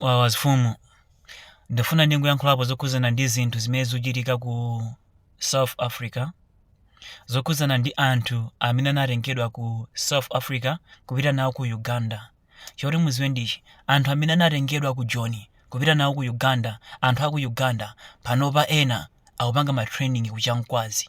Wawa zifumu. Ndifuna ndingoyankhulapo zokhudzana ndi zinthu zimene zikuchitika ku South Africa. Zokhudzana ndi anthu amene anatengedwa ku South Africa kupita nawo ku Uganda. Choti mudziwe ndichi, anthu amene anatengedwa ku Joni kupita nawo ku Uganda, anthu aku Uganda panopa ena akupanga ma training ku Kyankwanzi.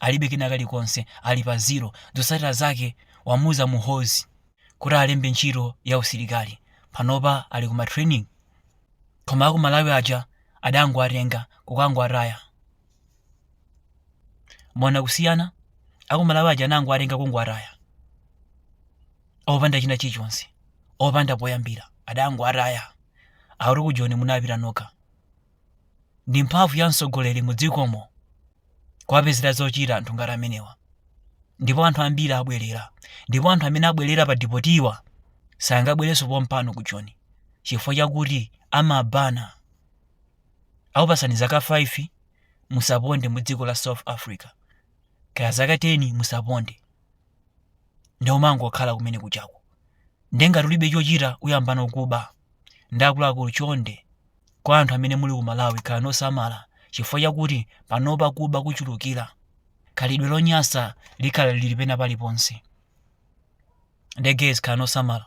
alibe kena kalikonse ali pa zero zotsatira zake wamuuza Muhoozi kuti alembe ntchito ya usilikali panopa ali kuma training koma aku malawi aja adangowatenga kukangowataya mona kusiyana aku malawi aja anangowatenga kungowataya opanda china chilichonse opanda poyambira adangowataya akuti ku joni munapita nokha ndi mphamvu ya mtsogoleri mu dzikomo kuwapezera zochita anthu ngati amenewa ndipo anthu ambiri abwerera ndipo anthu amene abwerera padipotiwa sangabwerenso pompano ku joni chifukwa chakuti amaban akupasani zaka 5 musaponde mu dziko la south africa kaya zaka 10 musaponde nde umangokhala kumene kuchako nde ngati ulibe chochita uyamba kuba ndi akuluakulu chonde Kwa anthu amene muli ku Malawi khalani osamala chifukwa chakuti panopa kuba kuchulukira. Khalidwe lonyasa likhala lili pena paliponse. Nde guys khalani osamala.